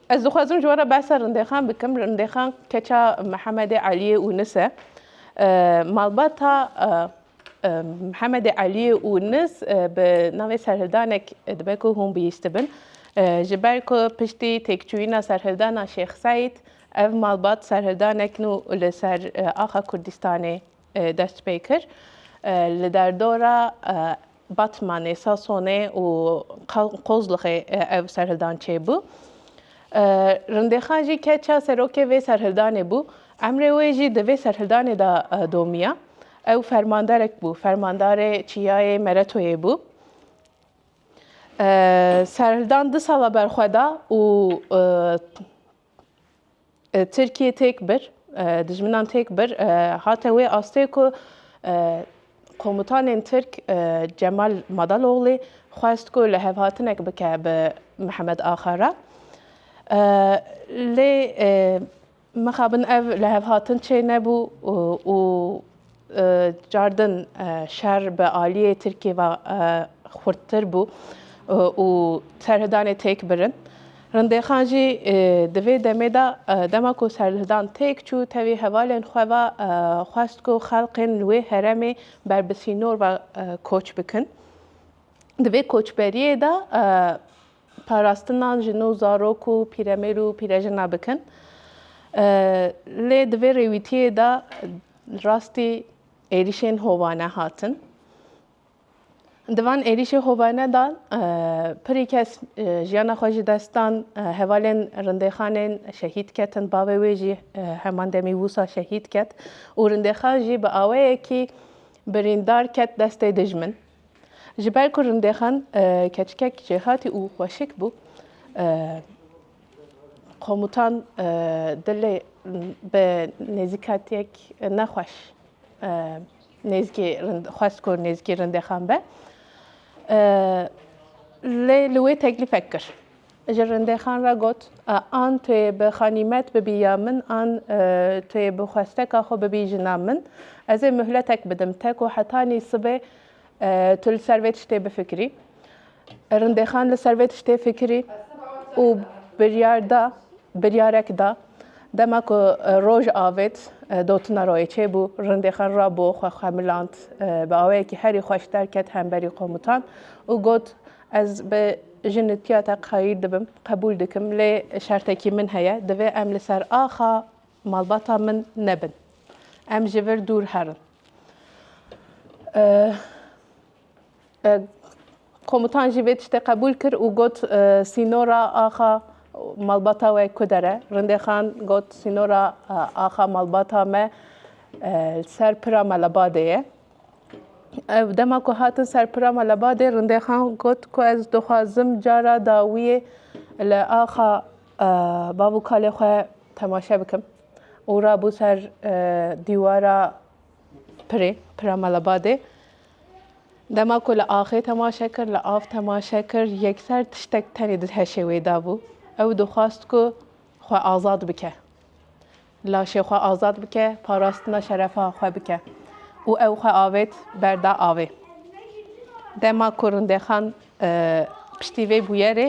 Ez dixwazim ji we re behsa Rindêxan bikim. Rindêxan keça Mihemedê Eliyê Unis e. Malbata Mihemedê Eliyê Unis bi navê Serhildanek dibe ku hûn bihîstibin. Ji ber ku piştî têkçûyîna Serhildana Şêx Seîd ev malbat Serhildanek nû li ser axa Kurdîstanê dest pê kir. Li derdora Batmanê, Sasonê û Qozlixê ev serhildan çêbû. Rindêxan jî keça serokê vê serhildanê bû. Emrê wê jî di vê serhildanê de domiya. Ew fermanderek bû, fermandarê çiyayê Meretoyê bû. Serhildan du sala berxwe da û Tirkiyê têk bir, dijminan têk bir, hate wê astê ku komutanên Tirk Cemal Madaloglî xwest ku li hevhatinek bike bi Mihemed Axa re. Lê mixabin ev li hevhatin çê nebû û Car din şer bi aliyê Tirkiyê ve xurttir bû û serhildanê têk birin. Rindêxan jî di vê demê de dema ku serhildan têk çû tevî hevalên xwe ve xwest ku xelkên li wê heremê ber bi sînor ve koç bikin. Di vê koçberiyê de parastina jin û zarok û pîremêr û pîrejina bikin. Lê di vê rêwîtiyê de rastî êrîşên hovane hatin. Di van êrîşê hovane de pirî kes jiyana xwe ji dest dan, hevalên rindêxanên şehîd ketin, bavê wê jî heman demî wisa şehîd ket û rindêxan jî bi aweyekî birîndar ket destê dijmin. Ji ber ku Rindêxan keçikek jêhatî û xweşik bû, komutan dilê bi nêzîkatiyek nexweş nêzîkî xwest ku nêzîkî Rindêxan be. Lê li wê teklîfek kir. Ji rindexan re got, An tu yê bi xanîmet bibî ya min an tu yê bi xwesteka xwe bibî jina min, ez ê muhletek bidim te ku hetanî sibê tu li ser vê tiştê bifikirî. Rindexan li ser vê tiştê fikirî û biryar da, biryarek da. Dema ku roj avêt, dotina royê çêbû, rindexan ra bo xwe xemiland. Bi awayekî herî xweş derket hemberî qomutan û got, Ez bi jinitiya te qayîl dibim, qebûl dikim lê şertekî min heye, divê em li ser axa malbata min nebin. Em ji vir dûr herin. Komutan jî vê tiştê qebûl kir û got sînora axa malbata we kuder e. Rindêxan got sînora axa malbata me li ser pira Melebadê ye. Ew dema ku hatin ser pira me li badê Rindêxan got ku ez dixwazim cara dawiyê li axa bav û kalê xwe temaşe bikim û rabû ser dîwara pirê, pira me li badê. Dema ku li axê temaşe kir, li av temaşe kir, yekser tiştek tenê di heşê wê de bû. Ew dixwast ku xwe azad bike. Laşê xwe azad bike, parastina şerefa xwe bike û ew xwe avêt berda avê. Dema ku Rindexan piştî vê bûyerê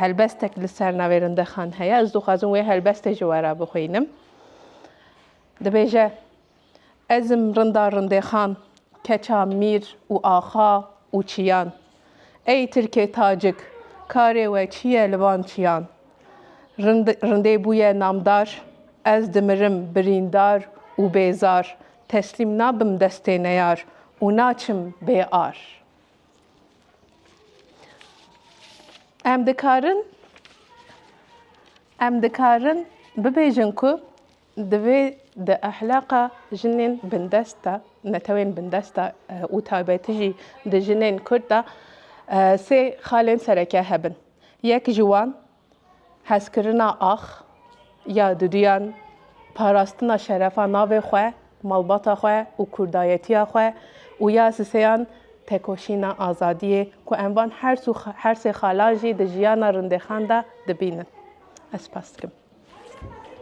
helbestek li ser navê Rindexan heye, ez dixwazim wê helbestê ji we re bixwînim. Dibêje Ezim rinda rindexan, keça mîr û axa û çiyan. Ey tirkê tacik, karê we çi ye li van çiyan? Rind, rindê bûye namdar, ez dimirim birîndar û bêzar, teslîm nabim destê neyar û naçim bê ar. Em dikarin, em dikarin bibêjin ku Divê di ehlaqa jinên bindest de, netewên bindest de û taybetî jî di jinên Kurd de sê xalên sereke hebin. Yek ji wan hezkirina ax ya duduyan, parastina şerefa navê xwe, malbata xwe û kurdayetiya xwe û ya siseyan tekoşîna azadiyê ku em van hers û her sê xala jî di jiyana rindexan de dibînin. Ez spas dikim.